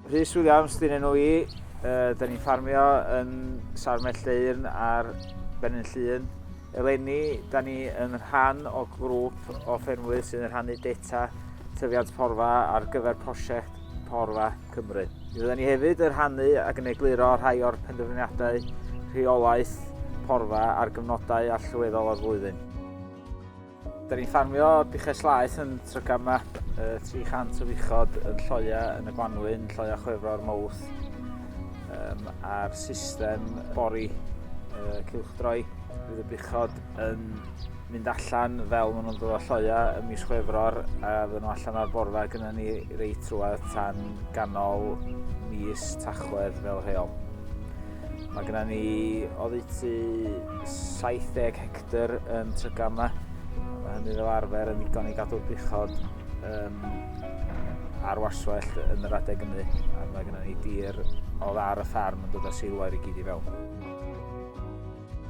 Rhys Williams, dyn enw i. Uh, da ni'n ffarmio yn Sar Melldeirn ar Benin Llun. Eleni, da ni yn rhan o grŵp o ffermwyr sy'n rhannu data tyfiant porfa ar gyfer prosiect porfa Cymru. Mi fydden ni hefyd yn rhannu ac yn egluro rhai o'r penderfyniadau rheolaeth porfa ar gyfnodau allweddol o'r flwyddyn. Da ni'n ffarmio buches laeth yn Trygama, 300 o fuchod yn Lloia, yn y Gwanwyn, Lloia Chwefro'r Mowth, um, a'r system bori uh, cylchdroi. Bydd y buchod yn mynd allan fel maen nhw'n dod o lloia ym mis Chwefror a fydden nhw allan ar borfa gyda ni reit trwad tan ganol mis Tachwedd fel rheol. Mae gyda ni oddeutu 70 hectr yn trygan yma. Mae hynny fel arfer yn ddigon i gadw'r buchod um, ar warswellt yn yr adeg ymu a mae gyda ni dir o ddar y ffarm yn dod â seilwair i gyd i fewn.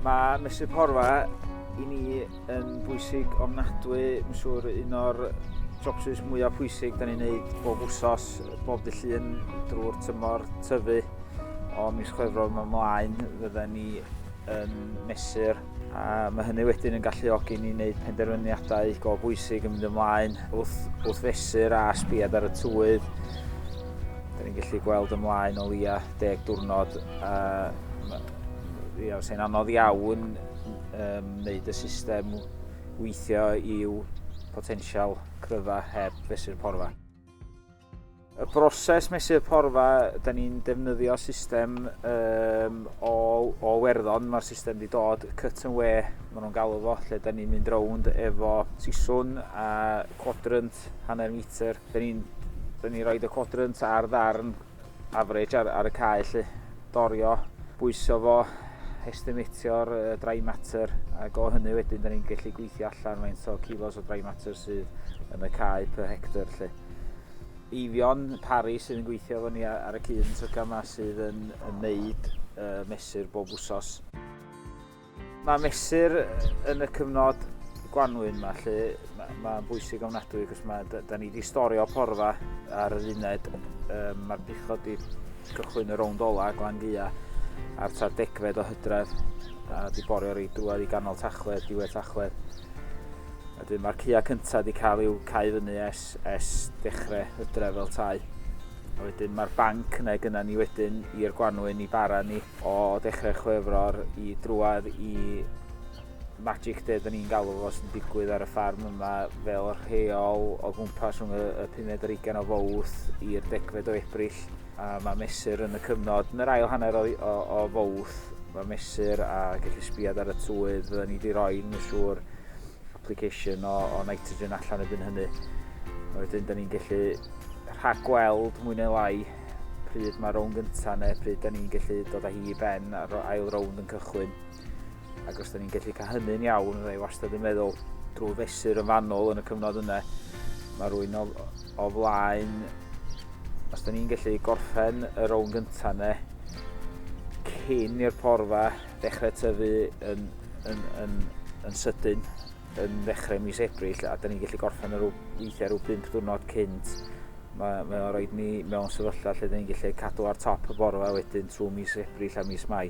Mae Mesur Porfa i ni yn bwysig ofnadwy, yn siŵr un o'r jobsus mwyaf pwysig da ni'n neud bob wsos, bob dy llun drwy'r tymor tyfu. O mis Chwefror mae mlaen fydden ni yn mesur a mae hynny wedyn yn galluogi ni wneud penderfyniadau go bwysig yn mynd ymlaen wrth, wrth fesur a sbiad ar y tywydd. Da ni'n gallu gweld ymlaen o leia deg diwrnod a Ie, os e'n anodd iawn um, wneud y system weithio i'w potensial cryfa heb fesur porfa. Y broses mesur porfa, da ni'n defnyddio system um, o, o werddon, mae'r system wedi dod cut and wear, maen nhw'n galw fo, lle da ni'n mynd rownd efo siswn a quadrant hanner metr. Da ni'n ni roed y quadrant ar ddarn average ar, ar y cae lly, dorio, bwyso fo, estimatio'r uh, dry matter, ac o hynny wedyn da ni'n gallu gweithio allan faint o kilos o dry matter sydd yn y cae per hectare lly. Eifion Pari sydd yn gweithio efo ni ar y cyn tryca yma sydd yn, yn neud uh, mesur bob wsos. Mae mesur yn y cyfnod gwanwyn yma lle mae'n ma bwysig ofnadwy cos mae, da, da ni wedi storio porfa ar yr uned. Um, Mae'r buchod wedi cychwyn y rownd ola glan gua ar tra degfed o hydref a wedi borio rei drwad i ganol tachled, diwedd tachled. A dwi mae'r cua cyntaf wedi cael i'w cael fyny es, es dechrau hydref fel tai. A wedyn mae'r banc yna gyda ni wedyn i'r gwanwyn i bara ni O ddechrau Chwefror i drwad i Magic Day, da ni'n galw fo, sy'n digwydd ar y ffarm yma fel rheol o gwmpas rhwng y, y 15 ar 20 o fowth i'r degfed o Ebrill. A mae mesur yn y cyfnod, yn yr ail hanner o, o, o fowth, mae mesur a gallu sbiad ar y tywydd, fydden ni wedi rhoi yn y siŵr application o, o nitrogen allan erbyn hynny. A wedyn, da ni'n gallu rhagweld mwy neu lai pryd mae'r rownd gyntaf neu pryd da ni'n gallu dod â hi i ben a'r ail rownd yn cychwyn. Ac os da ni'n gallu cael hynny'n iawn, fe wastad yn meddwl drwy fesur yn fanol yn y cyfnod yna, mae rwy'n o, o flaen, os da ni'n gallu gorffen y rownd gyntaf yna, cyn i'r porfa ddechrau tyfu yn, yn, yn, yn, yn sydyn, yn ddechrau mis Ebrill a da ni'n gallu gorffen ar weithiau rhyw 5 diwrnod cynt. Mae, mae o'n rhaid ni mewn sefyllfa lle da ni'n gallu cadw ar top y borfa wedyn trwy mis Ebrill a mis Mai.